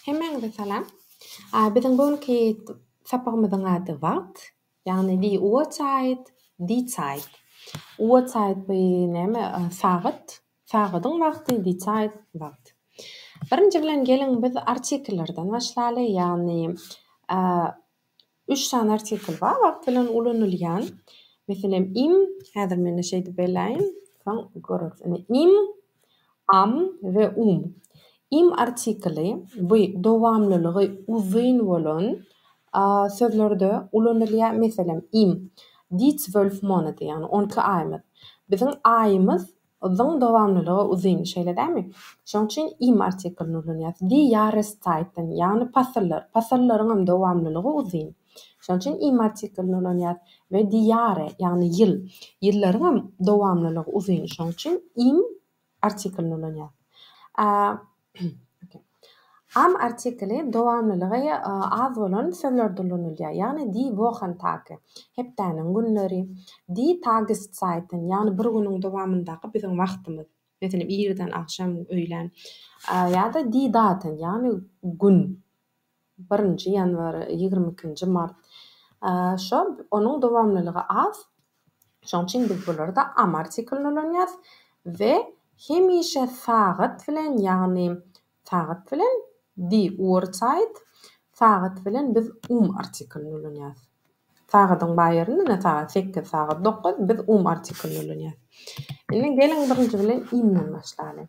Hemmäňize salam. Biziň bu günki sapagymyzyň ady wagt, ýagny die Uhrzeit, die Zeit. Uhrzeit bu näme sagat, sagadyň wagty, die Zeit wagt. Birinji bilen geliň biz artikellerden başlaly, ýagny Üç sany artikl bar wagt bilen ulanylýan. Meselem, im, häzir men-de şeýdip beräýin, soň göreris. Ine, im, am we um. Im artikli bu dowamlylygy uzyn bolan sözlerde ulanylýar. Meselem, im, dies zwölf Monate, ýagny on iki aýymyz. Biziň aýymyz Zyň dowamlylygy uzyn, şeýle dälmi? Şoň üçin im artiklini ulanýarys. Di ýarystaýtyn, ýagny pasyllar. Pasyllaryňam dowamlylygy uzyn. Şoň üçin im artiklini ulanýarys. We di ýary, ýagny ýyl. Ýyllaryňam dowamlylygy uzyn. Şoň üçin im artiklini ulanýarys. A. Am artikli dowamlylygy az bolan sözlerde ulanylýar, ýagny die Wochentage, hepdäniň günleri, die Tageszeiten, ýagny bir günüň dowamyndaky biziň wagtymyz, meselem, irden, agşam, öýlän, ýa-da die Daten, ýagny gün. Birinji ýanwar, ýigrimi ikinji mart. Şo, onuň dowamlylygy az. Şoň üçin biz bularda am artiklini ulanýas we hemişe sagat bilen, ýagny sagat bilen, die Uhrzeit, sagat bilen biz um artiklini ulanýas. Sagadyň bar ýerinde ine sagat sekiz, sagat dokuz, biz um artiklini ulanýas. Indi geliň birinji bilen imden başlalyň.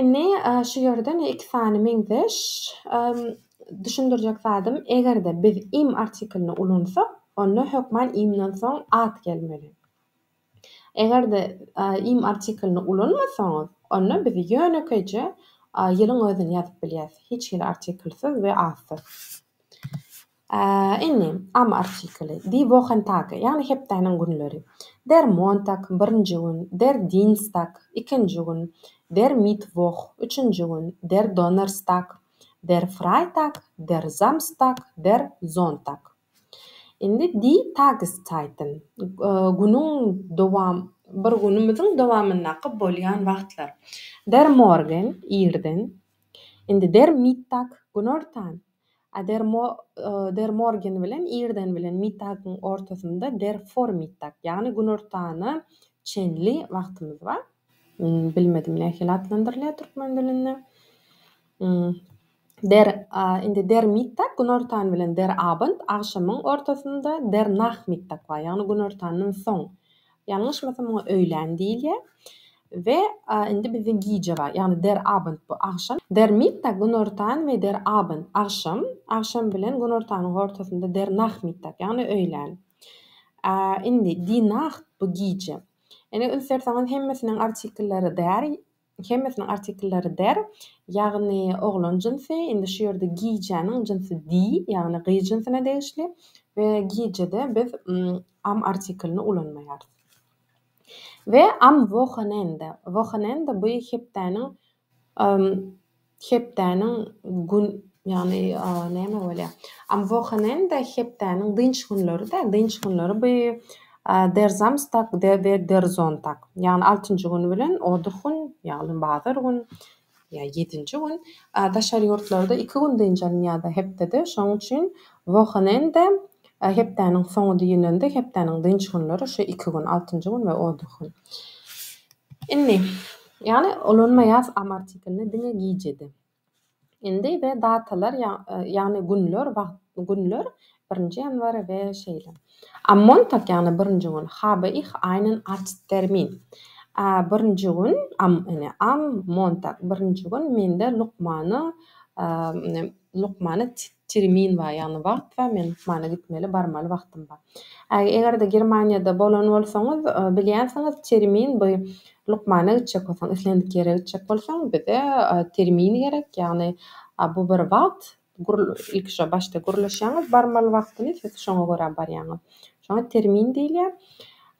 Indi şu ýerde men iki sany meňzeş düşündirjek zadym, eger-de biz im artiklini ulansak, onda hökman imden soň at gelmeli. Eger-de im artiklini ulanmasaňyz, onda biz ýönekeýje ýylyň özüni ýazyp bilýäs, hiç hili artiklsiz we atsyz. Indi, am artikeli, Die Wochen Tage, ýagny hepdäniň günleri, Der Montag, birinji gün, Der Dienstag, ikinji gün, Der Mittwoch, üçünji gün, Der Donnerstag, Der Freitag, Der Samstag, Der Sonntag. Indi, Die Tageszeiten, günüň dowam, bir günümiziň dowamyndaky bolýan wagtlar, Der Morgen, irden, indi, Der Mittag, günortan, Der Morgen bilen irden bilen Mittagyň ortasynda Der Vormittag, ýagny günortana çenli wagtymyz bar. Bilmedim nähili atlandyrylýar türkmen dilinde. Der indi Der Mittag günortan bilen Der Abend agşamyň ortasynda Der Nachmittag bar, ýagny günortandan soň. Ýalňyşmasam muňa öýlän diýilýär. We indi bizde gije bar. Ýagny der Abend bu agşam. Der Mittag günortan we der Abend agşam. Agşam bilen günortanyň hortasynda der Nachmittag ýagny öýlän. Indi die Nacht bu gije. Indi üns berseňiz hemmesiniň artikelleri der Hemmesiniň artikllary der, ýagny oglan jynsy, indi şu ýerde gijäniň jynsy di, ýagny gyz jynsyna degişli we gijede biz am artiklini ulanmaýarys. We am wohonende. Wohonende bu hepdäniň Hepdäniň gün ýagny näme bolýar? Am Wochenende hepdäniň dynç günleri-de, dynç günleri bu Der Samstag we Der Sonntag. Ýagny altynjy gün bilen Odur gün, ýagny bazar gün ýa ýedinji gün. Daşary ýurtlarda iki gün dynç alynýar-da hepdede. Şonuň üçin Wochenende hepdäniň soňy diýilende hepdäniň dynç günleri şu iki gün, altynjy gün we Odur gün. Indi Ýagny ulanmaýas am artiklini diňe gijede. Indi we datalar ýagny günler wagt günler birinji ýanwar we şeýle. Am Montag ýagny birinji gün habe ich einen Arzttermin birinji gün am ene am Montag birinji gün mende lukmanyň lukmany Termin bar, ýagny wagt bar, men lukmana gitmeli, barmaly wagtym bar. Äý, eger-de Germaniýada bolan bolsaňyz, bilýänsiňiz, termin bu, lukmana gitjek bolsaň, islendik ýere gitjek bolsaň, bize termin gerek, ýagny bu bir wagt, gür, ilki şo başda gürleşýäňiz barmaly wagtyny, siz şoňa görä barýaňyz. Şoňa termin diýilýär.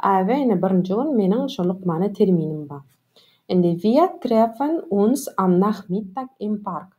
Äý, we ine birinji gün meniň şo lukmana terminim bar. Indi, Wir treffen uns am Nachmittag im Park.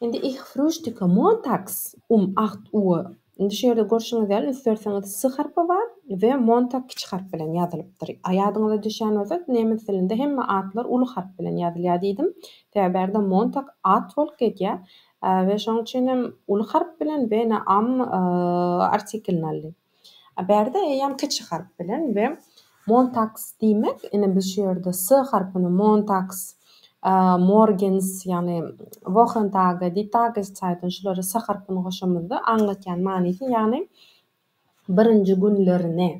Indi Ich frühstücke montags um acht Uhr. Indi şu ýerde görşüňiz ýaly, ünslerseňiz s harpy bar we Montag kiçi harp bilen ýazylypdyr. Ýadyňyza düşýän bolsa, nemes dilinde hemme atlar uly harp bilen ýazylýar diýdim. Sebäbi bärde Montag at bolup gelýär we şonuň üçin hem uly harp bilen we ene am artiklini aldy. A bärde eýýäm kiçi harp bilen we Montaks diýmek, ine biz şu ýerde S harpyny Montaks, Morgens, ýagny Wochentage, Die Tageszeiten şulara S harpyny goşamyzda aňlatýan manysy, ýagny birinji günlerini,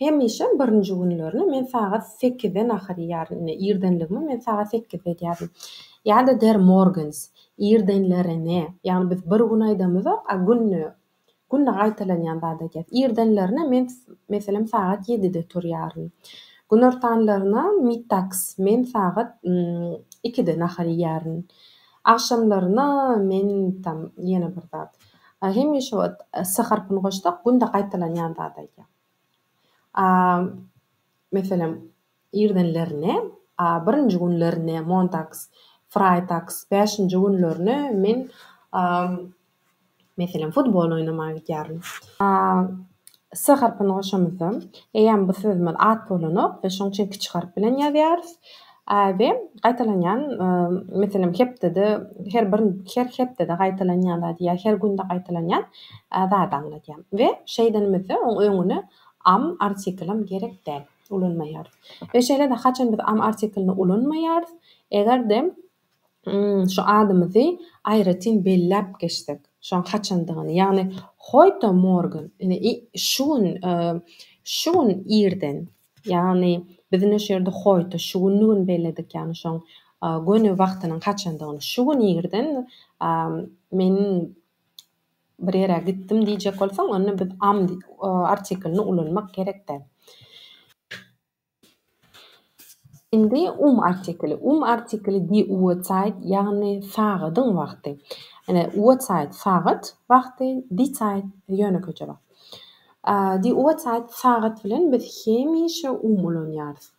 hemişe birinji günlerini men sagat sekizde nahar iýýärin, ine irdenligimi men sagat sekizde edýärin. Ýa-da Der Morgens, irdenlerini, ýagny biz bir gün aýdamyzok, a günde Günde gaýtalanýan zat eken. Irdenlerine men, meselem, sagat ýedide turýaryn. Günortanlaryna mitaks, men sagat ikide nahar iýýärin. Agşamlaryna men tam ýene bir zat. Hemişe wagt s harpyny goşsak, günde gaýtalanýan zat eken. A, meselem, Irdenlerine, a birinji günlerine montaks, fraýtaks, bäşinji günlerine men, a meselem, futbol oýnamaga gidýärin. A s harpyny goşamyzda, eýýäm bu sözümiz at bolanok we şoň üçin kiçi harp bilen ýazýarys. A we gaýtalanýan, meselem, hepdede, her bir, her hepdede gaýtalanýan zady ýa her günde gaýtalanýan zady aňladýar. We şeýdenimizde oň öňüne am artiklem gerek däl. ulanmaýarys. We şeýle-de haçan biz am artiklini ulanmaýarys, eger-de şu adymyzy aýratyn belläp geçsek, şoň haçandygyny, ýagny heute Morgen, ine i şu gün, şu gün irden, ýagny biz ine şu ýerde heute, şu günli gün belledik, ýagny şoň göni wagtynyň haçandygyny, şu gün irden men Bir ýere gitdim diýjek bolsaň, onda biz am artiklini ulanmak gerek däl. Indi um artikli. Um artikli die Uhrzeit, ýagny sagadyň wagty. Ine, Uhrzeit sagat wagty, die Zeit ýönekeje wagt. Die Uhrzeit sagat bilen biz hemişe um ulanýarys.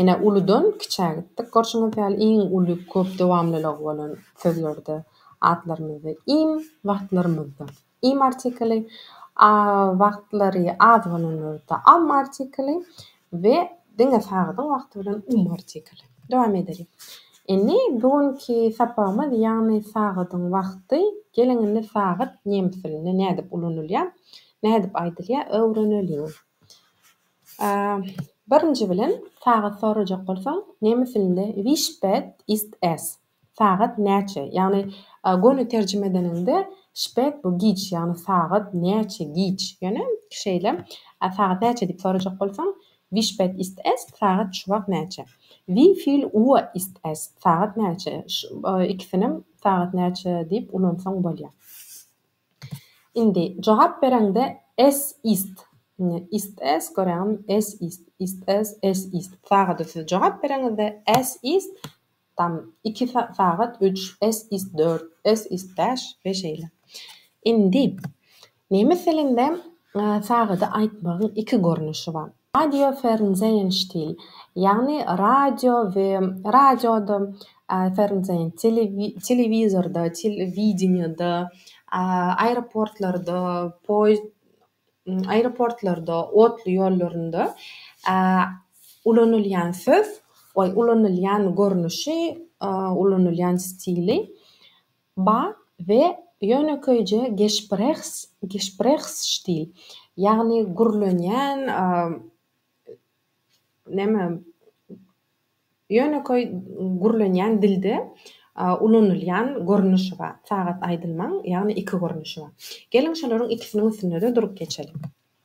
Ine, uludan kiçä gitdik. Görşüňiz ýaly, iň uly köp dowamlylygy bolan sözlerde atlarymyzda im, wagtlarymyzda im artikli, a wagtlary az bolanlarda am artikli we diňe sagatyn wagty bilen um artikli. Dowam edeliň. Indi bu günki sapagymyz, ýagny sagadyň wagty. Geliň indi sagat nemes dilinde nädip ulanylýar, nädip aýdylýar öwreneliň. Birinji bilen, sagat sorajak bolsaň, nemes dilinde Wie spät ist es? Sagat näçe? Ýagny, göni terjime edeniňde, spät bu giç, ýagny sagat näçe giç. Ýöne şeýle, sagat näçe diýip sorajak bolsaň, Wie spät ist es? Sagat şu wagt näçe? Wie viel Uhr ist es? Sagat näçe? Ikisinem sagat näçe diýip ulansaň bolýar. Indi jogap bereňde es ist indi ist es göräňmi es ist ist es es ist sagada siz jogap bereňizde es ist tam iki sagat üç es ist dört es ist bäş we şeýle indi nemes dilinde sagady aýtmagyň iki görnüşi bar Radiofernsehen stil, ýagny radio we radioda, fernsehen, telewizorda, telewideniýede, aeroportlarda, poýezd, aeroportlarda, otly ýollarynda, ulanylýan söz, ulanylýan görnüşi, ulanylýan stili. Ba we ýönekeýje Gesprehs, Gesprächsstil, ýagny gürlenýän, näme, ýönekeý gürlenýän dilde ulanylýan görnüşi bar. Sagat aýdylmaň, ýagny iki görnüşi bar. Geliň, şolaryň ikisiniň üstünde-de durup geçeliň.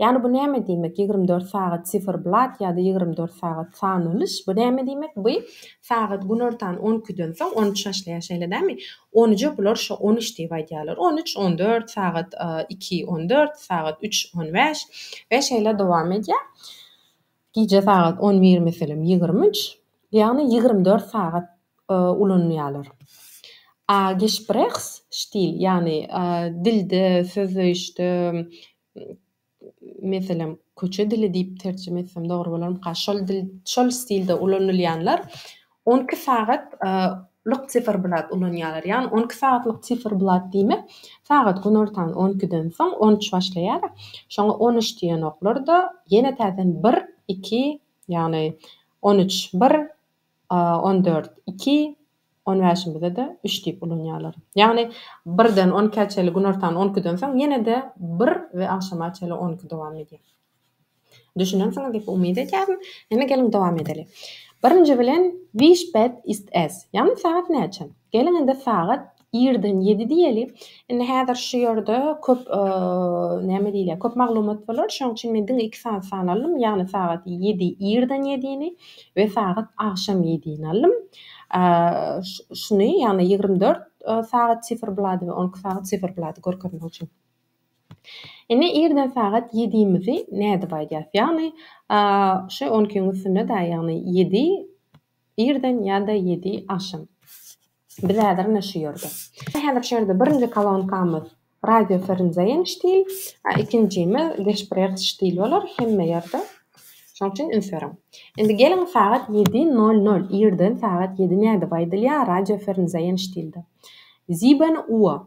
Ýagny bu näme diýmek ýigrimi dört sagat siferblat ýa-da ýigrimi dört sagat sanalyş bu näme diýmek bu sagat günortan on ikiden soň on üç başlaýar şeýle dämi on üje bular şo on üç diýip aýdýarlar on üç on dört sagat iki on dört sagat üç on bäş we şeýle dowam edýär Gije sagat on bir meselem ýigrimi üç, ýagny ýigrimi dört sagat ulanylýarlar. Agesprechstil, ýagny dilde, sözleýişde, meselem, köçe dili diýip terjime etsem dogry bolarmyka, şol dil, şol stilde ulanylýanlar On iki sagat lyk siferblat ulanýarlar. Ýagny on iki sagatlyk siferblat diýmek, sagat günortan on ikiden soň on üç başlaýar. Şoňa on üç diýenoklar-da, ýene täzeden bir, iki, ýagny on üç, bir, on dört, iki, on bäşimizde-de üç diýip ulanýarlar. Ýagny birden on ikä çenli günortan on ikiden soň ýene-de bir we agşama çenli on iki dowam edýär. Düşünensiňiz diýip umyt edýärin. Indi geliň dowam edeli. Birinji bilen Wie spät ist es? Ýagny sagat näçe? Geliň indi sagat irden ýedi diýeli. Indi häzir şu ýerde köp näme diýilýär, köp maglumat bolar. Şonuň üçin men diňe iki sany san aldym. Ýagny sagat ýedi irden ýedini we sagat agşam ýedini aldym. Şuny, ýagny ýigrimi dört sagat siferblady we on iki sagat siferblady görkezmek üçin. Indi irden sagat ýedimizi nädip aýdýas? Ýagny şu on ikiň üstünde-dä, ýagny ýedi irden ýa-da ýedi agşam. Biz häzir ine şu ýerde. Häzir şu ýerde birinji kolonkamyz radioferenzeýen ştil, a ikinjimiz geschprehs ştil bolar hemme ýerde. Şonuň üçin üns beriň. Indi geliň sagat ýedi nol nol, irden sagat ýedi nädip aýdylýar radioferenzeýen ştilde? Sieben Uhr.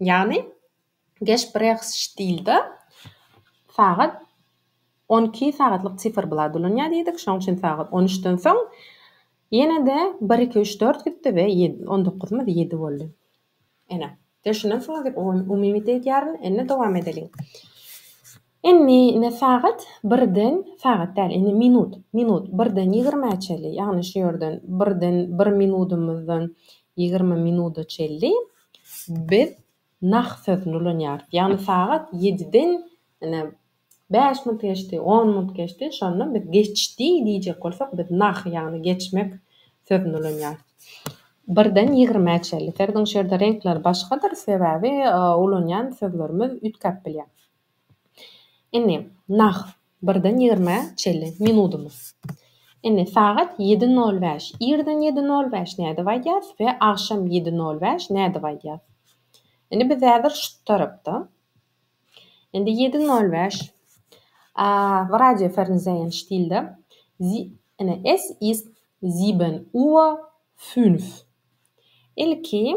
Ýagny Geşbrexstilde sagat on iki sagatlyk siferblat ulanýar diýdik, şonuň üçin sagat on üçden soň ýene-de bir, iki, üç, dört gitdi we ýedi, on dokuzymyz ýedi boldy. Ene, düşünensiňiz diýip umyt edýärin. Indi dowam edeliň. Indi ine sagat birden, sagat däl, indi minut, minut birden ýigrimä çelli, ýagny şu ýerden birden bir minudymyzdan ýigrimi minuda çelli biz nah sözüni ulanýarys. Ýagny sagat ýediden ine bäş minut geçdi, on minut geçdi, şonda biz geçdi diýjek bolsak, biz nah, ýagny geçmek sözüni ulanýarys. Birden ýigrimä çelli. Serdin şu ýerde reňkler başgadyr, sebäbi ulanýan sözlerimiz üýtgäp bilýär. Indi nah birden ýigrime çenli minudymyz. Indi sagat ýedi nol bäş. Irden ýedi nol bäş nädip aýdýas we agşam ýedi nol bäş nädip aýdýas? Indi biz häzir şu tarapda. Indi ýedi nol bäş. W Radio Fernsehen stilde. Indi es ist sieben Uhr fünf. Ilki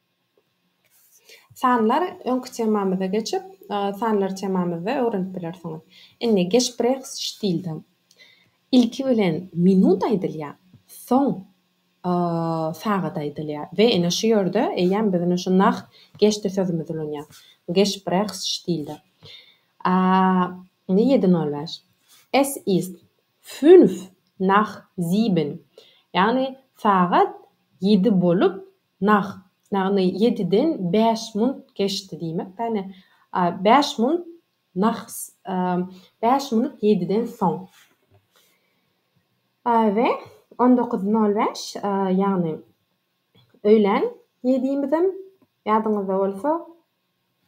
Sanlar öňki temamyza geçip, sanlar temamyzda öwrenip bilersiňiz. Indi Geschprechstilde ilki bilen minut aýdylýar, soň sagat aýdylýar we ine şu ýerde eýýäm biz ine şu nach geçdi sözümizi ulanýarys. Geschprechstilde. Indi ýedi nol bäş. Es ist fünf nach sieben. Ýagny sagat ýedi bolup Nah, ýagny ýediden bäş munt geçdi diýmek, ýagny bäş munt nah, bäş munt ýediden soň. We on dokuz nol bäş, ýagny öýlän ýedimizem, ýadyňyzda bolsa,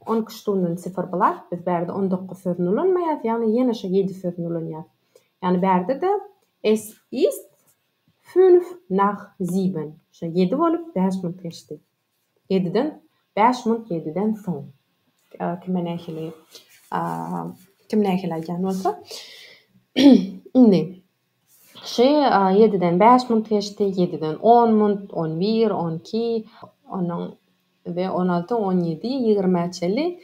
on iki ştunden sifr blat, biz bärde on dokuz sözüni ulanmaýarys, ýagny ýene şo ýedi sözüni ulanýarys. Ýagny bärde-de es ist, Fünf nach sieben, şo ýedi bolup bäş minuty geçdi. Ýediden, bäş minuty ýediden soň. Kime nähili, kim nähili aýdýan bolsa. Indi, şo ýediden bäş minuty geçdi, ýediden on minuty, on bir, on iki, onuň we on alty, on ýedi, ýigrimä çenli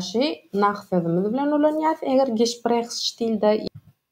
şo nach sözümiz bilen ulanýarys, eger Gesprächsstilde.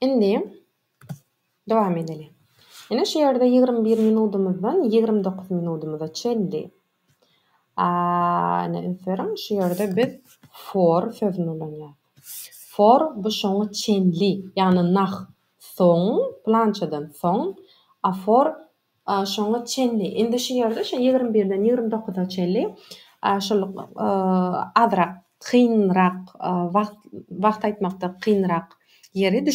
Indi dowam edeliň. Ine şu ýerde ýigrimi bir minudymyzdan ýigrimi dokuz minudymyza çenli. A, ine ünsberiň, şu ýerde biz for sözüni ulanýarys. For bu şoňa çenli, ýagny nah soň, plançadan soň, a for Şoňa çenli, indi şu ýerde şu ýigrimi birden ýigrimi dokuza çenli şol azrak kynrak wagt, wagt aýtmakda kynrak ýeri,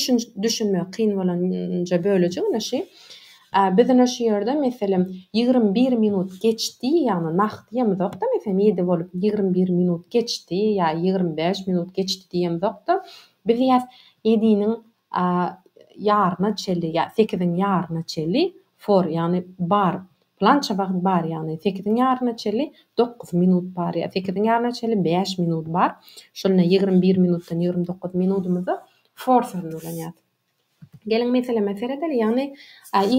düşünmegi kyn bolanja bölejik ine şu. Biz ine şu ýerde meselem ýigrimi bir minut geçdi, ýagny nagt diýemizok-da, meselem ýedi bolup ýigrimi bir minut geçdi ýa ýigrimi bäş minut geçdi diýemizok-da, biz ýa ýediniň A ýaryna çeli, ýa sekiziň ýaryna çeli, for, ýagny bar, pylança wagt bar, ýagny sekiziň ýaryna çeli dokuz minut bar, ýa sekiziň ýaryna çeli bäş minut bar. Şonda ýigrimi bir minutdan ýigrimi dokuz minudymyzy for sözüni ulanýarys. Geliň meseleme seredeli, ýagny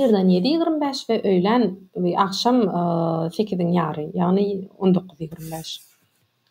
irden ýedi ýigrimi bäş we öýlän we agşam sekiziň ýary, ýagny on dokuz ýigrimi bäş.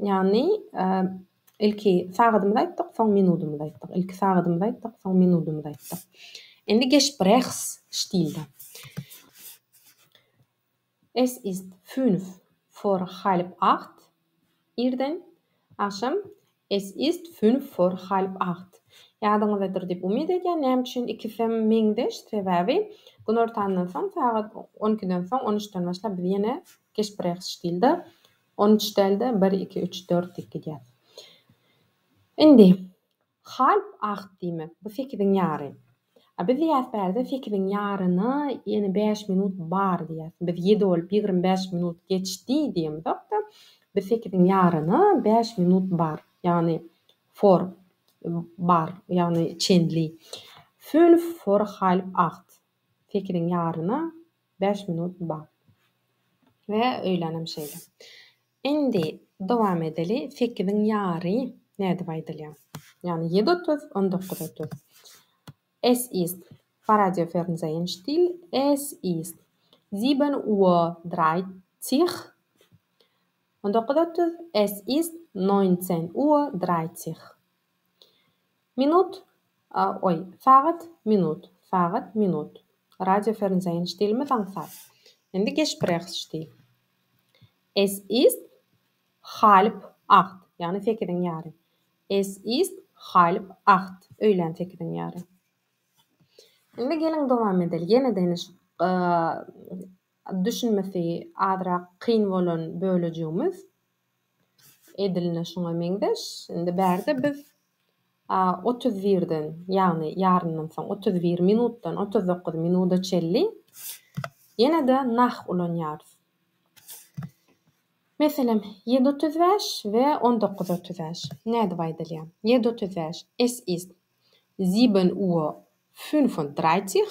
Ýagny, ilki sagadymyzy aýtdyk, soň minudymyzy aýtdyk, ilki sagadymyzy aýtdyk, soň minudymyzy aýtdyk. Indi Gesprechs stilde. Es ist fünf vor halb acht, irden, agşam, Es ist fünf vor halb acht. Ýadyňyzdadyr diýip umyt edýän. Näme üçin ikisem meňzeş? Sebäbi günortandan soň, sagat on ikiden soň, on üçden başlap biz ýene Gesprechs stilde. On üç däl-de, bir, iki, üç, dört diýip gidýär. Indi, halp agt diýmek, bu sekiziň ýary. A biz diýýäs bärde sekiziň ýaryna ýene bäş minut bar diýýäs. Biz ýedi bolup ýigrimi bäş minut geçdi diýemizok-da, biz sekiziň ýaryna bäş minut bar, ýagny vor bar, ýagny çenli. Fünf vor halb agt. Sekiziň ýaryna Bäş minut ba. We öýlänem şeýle. Indi dowam edeli. Sekiziň ýary nädip aýdylýar? Ýagny ýedi otuz, on dokuz otuz. Es ist Faradýofernsehen stil, es ist sieben Uhr dreizig. On dokuz otuz, es ist neunzehn Uhr dreizig. Minut, oý, sagat, minut, sagat, minut. Radio Fernsehen still mi zaňsat? Indi Gespräch still. Es ist halb acht, ýagny sekiziň ýary. Es ist halb acht, öýlän sekiziň ýary. Indi geliň dowam edeli. Ýene deniş düşünmesi azrak kyn bolan bölejigimiz. Edilne şuňa meňzeş. Indi bärde biz a, otuz birden, ýagny ýaryndan soň otuz bir minutdan otuz dokuz minuda çenli ýene-de nah ulanýarys. Meselem, ýedi otuz bäş we on dokuz otuz bäş. Nädip aýdylýar? Ýedi otuz bäş, Es ist sieben Uhr fünfunddreißig.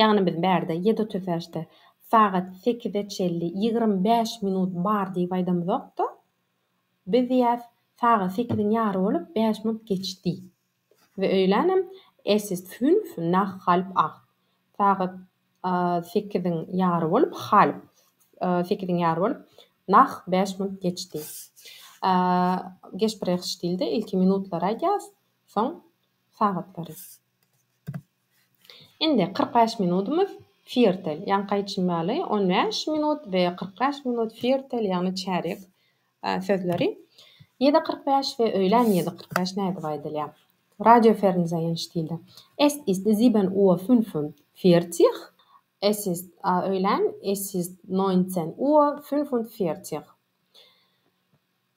Ýagny biz bärde ýedi otuz bäşde sagat sekize çenli ýigrimi bäş minut bar diýip aýdamyzok-da. Biz diýýäs, sagat sekiziň ýary bolup bäş minut geçdi. We öýlänem Es ist fünf nach halb acht. Sagat sekiziň ýary bolup, halb, sekiziň ýary bolup, nach bäş minut geçdi. Gesprech stilde ilki minutlary aýdýas, soň sagatlary. Indi kyrk bäş minudymyz Firtel, ýaňky aýtşym ýaly on bäş minut we kyrk bäş minut Firtel ýagny çärýek sözleri ýedi kyrk bäş we öýlän ýedi kyrk bäş nädip aýdylýar? Radio Fernsehen stilde Es ist sieben Uhr fünfundvierzig Es ist öýlän Es ist neunzehn Uhr fünfundvierzig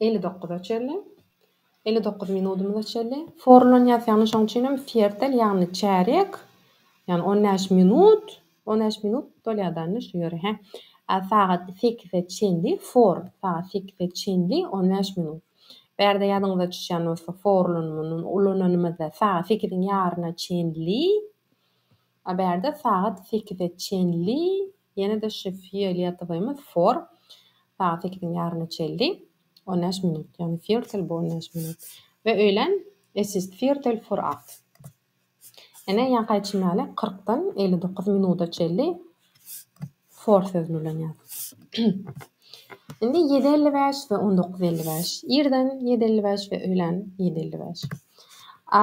Elli dokuza çenli. Elli dokuz minudymyza çenli. Forlanýas, ýagny şoň üçin hem fiertel, ýagny çärýek, ýagny on bäş minut, on bäş minut dolýadany şu ýeri, hä. A sagat sekize çenli, for, sagat sekize çenli, on bäş minut. Bärde ýadyňyza düşýän bolsa, forlanymy ulananymyzda sagat sekiziň ýaryna çenli. A bärde sagat sekize çenli ýene-de şu fioletowymy for sagat sekiziň ýaryna çelli on bäş minut, ýagny firtel bu on bäş minut we öýlän es ist firtel for acht. Ene ýankaý çemeli kyrkdan elli dokuz minuda çelli for sözüni bilen ýaz. Indi ýedi elli bäş we on dokuz elli bäş. Irden ýedi elli bäş we öýlän ýedi elli bäş. A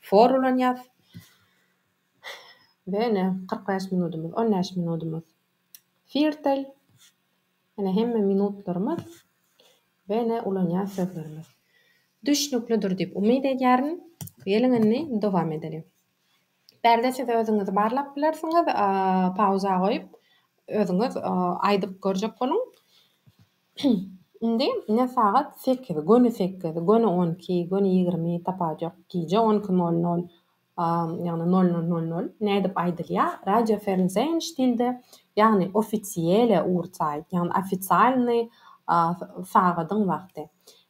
For ulanýas. We ine kyrk bäş minudymyz, on bäş minudymyz firtel. Ine hemme minutlarymyz we ine ulanýan sözlerimiz. Düşnüklidir diýip umyt edýärin. Geliň indi dowam edeliň. Bärde siz özüňizi barlap bilersiňiz, pauza goýup, özüňiz aýdyp görjek boluň. Indi ne sagat sekiz, göni sekiz, göni on iki, göni ýigrimi, tapajok, gije on iki nol nol, ýagny nol nol nol nol, nädip aýdylýar? Radio Fernsehen stilde, ýagny ofisiele Uhrzeit, ýagny ofisialnyý sagadyň wagty.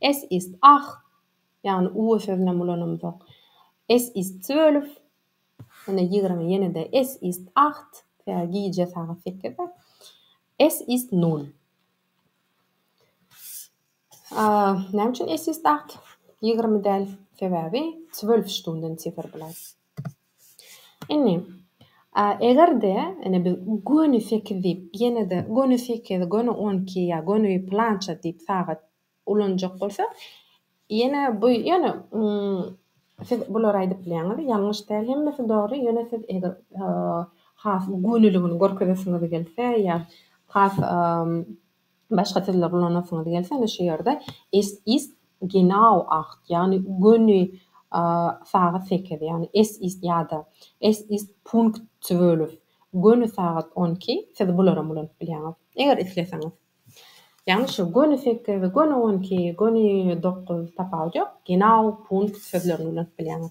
Es ist ach, ýagny u sözünem ulanymzok. Es ist zwölf, ine ýigrimi ýene-de es ist acht, tä gije sagat sekize. Es ist nul. A näme üçin es ist acht, ýigrimi däl? Sebäbi zwölf stunden Zifferblat. Indi, eger-de, ine, biz göni sekiz diýip, ýene-de göni sekiz, göni on iki ýa göni pylança diýip sagat ulanjak bolsak, ýene bu, ýöne, siz bulary aýdyp bilýäňiz, ýalňyş däl, hemmesi dogry, ýöne siz eger has göniligini görkezesiňiz gelse ýa has Başga sözler ulanasyňyz gelse, ine şu ýerde Es ist genau acht, ýagny göni sagat sekiz, ýagny es ist ýa-da Es ist Punkt zwölf, göni sagat on iki, siz bularam ulanyp bilýäňiz, eger isleseňiz. Ýagny şu göni sekiz, göni on iki, göni dokuz, tapawut ýok, genau, Punkt sözlerini ulanyp bilýäňiz.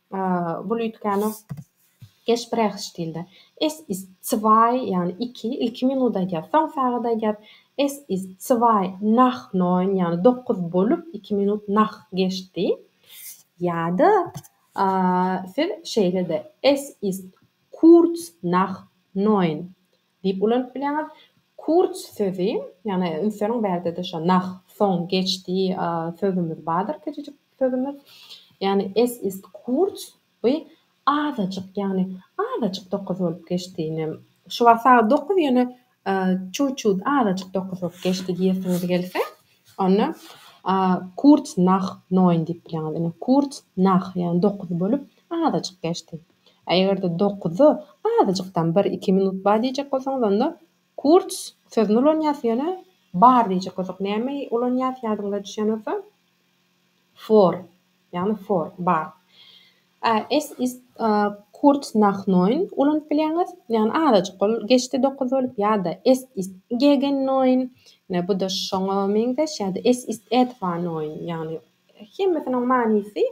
Bul üýtgäne Gespräch stilde Es ist zwei, ýagny iki, ilki minut aýdýar, soň sagat aýdýar, Es ist zwei nach neun, ýagny dokuz bolup iki minut nach geçdi. Ýa-da siz şeýle-de Es ist kurz nach neun, Diýip ulanyp bilýäňiz. Kurz sözi, ýagny insleriň bärde-de şo nach, soň, geç diýi sözümiz bardyr, kiçijik sözümiz. Ýagny es ist kurz, bu azajyk, ýagny azajyk dokuz bolup geçdi, ine, şu wagt sagat dokuz, ýöne çut-çut, azajyk dokuz bolup geçdi diýesiňiz gelse, onda kurz nach neun diýip bilýäňiz. Ine, kurz nach, ýagny dokuz bolup azajyk geçdi. A eger-de dokuza azajykdan bir, iki minut bar diýjek bolsaňyz, onda kurz sözüni ulanýarys, ýöne bar diýjek bolsak näme ulanýarys, ýadyňyza düşýän bolsa, vor, ýagny for, bar. A es ist kurz nach neun ulanyp bilýäňiz, ýagny azajyk bolup geçdi dokuz bolup ýa-da es ist gegen neun, ine bu-da şoňa meňzeş ýa-da es ist etwa neun, ýagny Hemmesiniň manysy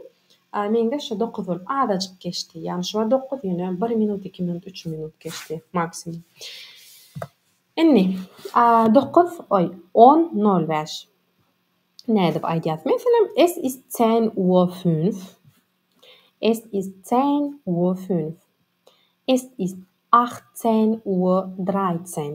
meňde şo dokuz bolup azajyk geçdi. Ýagny şu wagt dokuz ýöne bir minut iki minut üç minut geçdi maksimum. Indi dokuz oý on nol bäş nädip aýdýas meselem es ist zähn uor fünf es ist zähn uor fünf es ist acht zähn uor draýtsen.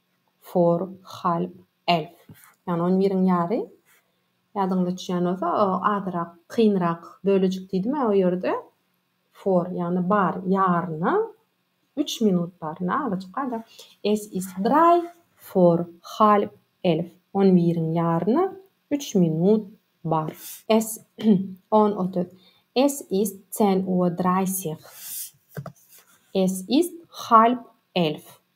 For half elf. Ýagny on biriň ýary. Ýadyňyza düşýän bolsa, o azrak kynrak bölejik diýdim-ä o ýerde. For, ýagny bar, ýaryna, üç minut bar. Indi azajyk-a-da. Es ist drei. For half elf. On biriň ýaryna üç minut bar. Es on otuz. Es ist zehn uhr dreissig. Es ist half elf.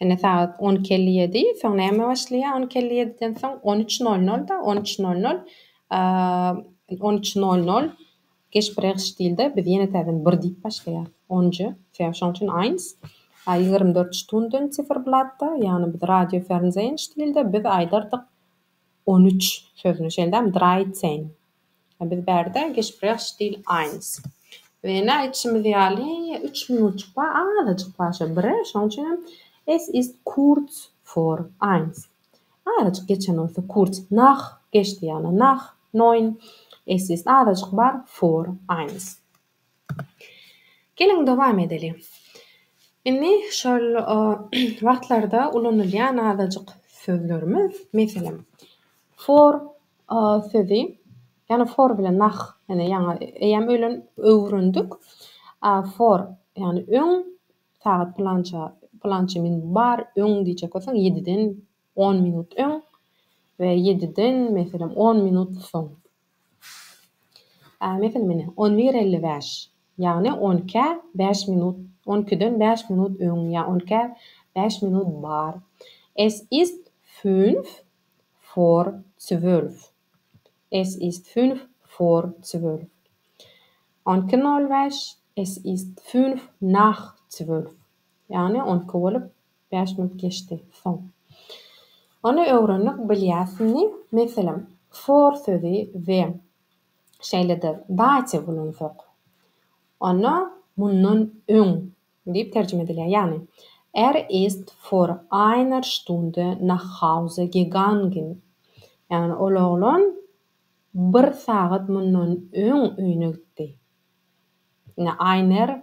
Ine, sagat on iki elli ýedi. Soň näme başlaýar? On iki elli ýediden soň on üç nol nol-da, on üç nol nol, on üç nol nol. Geç birehş diýildi. Biz ýene täzeden bir diýip başlaýarys. Onjy, sebäbi şoň üçin eins. A ýigrimi dört Stunden Ziferblatt-da, ýagny biz radio fernseýenç diýildi. Biz aýdardyk on üç sözüni, şeýldämi? Dreizehn. A biz bärde Gespräch stil eins. We ine, aýdyşymyz ýaly, üç minutjyk bar, azajyk bar şo bire, şoň üçin hem Es ist kurz vor eins. Azajyk geçen bolsa kurz, nach geçdi ýagny, nach neun. Es ist azajyk bar vor eins. Geliň dowam edeliň. Indi şol wagtlarda ulanylýan azajyk sözlerimiz, meselem, for sözi, ýagny for bilen nah, ýene ýaňy eýýäm öýlen öwrendik. For, ýagny öň, sagat pylança, pylança minut bar, öň diýjek bolsaň, ýediden on minut öň we ýediden, meselem, on minut soň. Ämetin meni, on bir elli bäş, ýagny on ikä bäş minut, on ikiden bäş minut öň ýa on ikä bäş minut bar, es ist fünf vor zwölf, es ist fünf vor zwölf, on iki nol bäş, es ist fünf nach zwölf, ýagny on iki bolup Bäş minut geçdi. Soň. Ony öwrendik, bilýärsiňmi? Meselem, for sözi we şeýle-de dative ulansak, onda mundan öň diýip terjime edilýär. Ýagny, Er ist vor einer Stunde nach Hause gegangen. Ýagny, ol oglan bir sagat mundan öň öýüne gitdi. Ine, einer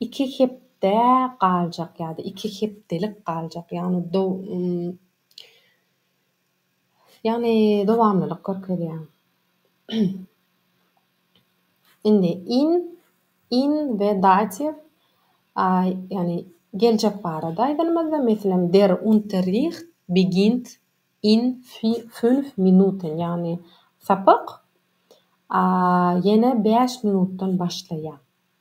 Iki hepde galjak ýa-da iki hepdelik galjak, ýagny do ýagny dowamlylyk görkezýär. Indi in in we datiw a ýagny geljek barada aýdanymyzda, meselem, Der Unterricht beginnt in fi fünf Minuten, ýagny sapak a ýene bäş minutdan başlaýar.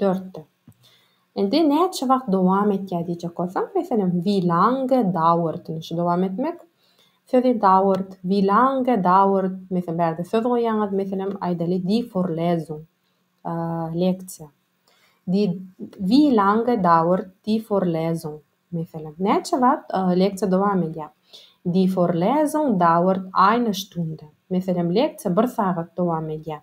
Dörtde. Indi näçe wagt dowam etýär diýjek bolsaň, meselem, wie lange dauert indi şu dowam etmek sözi dauert, wie lange dauert meselem, bärde söz goýýaňyz, meselem, aýdaly die Vorlesung, leksiýa. Die wie lange dauert die Vorlesung meselem, näçe wagt leksiýa dowam edýär? Die Vorlesung dauert eine Stunde meselem, leksiýa bir sagat dowam edýär.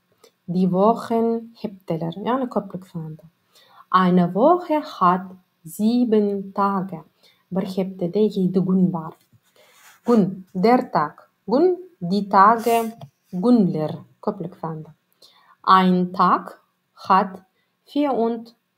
Die Wochen, Hepdeler, ýagny köplük sanda. Eine Woche hat sieben Tage, Bir hepdede ýedi gün bar. Gün, der Tag, gün, die Tage, günler, köplük sanda. Ein Tag hat vier und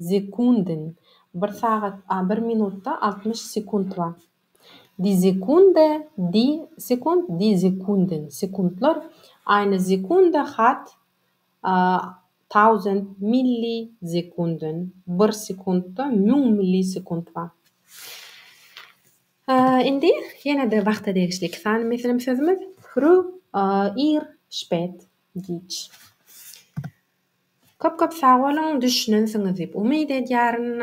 Sekunden, bir sagat, a bir minutda altmyş sekunt bar. Die Sekunde, die Sekund, die Sekunden, sekuntlar, eine Sekunde hat a tausend Millisekunden, bir sekuntda müň millisekunt bar. Indi ýene-de wagta degişli iki sany meselem sözümiz, Früh, ir, spät. Giç. Köp köp sag boluň düşünensiňiz diýip umyt edýärin.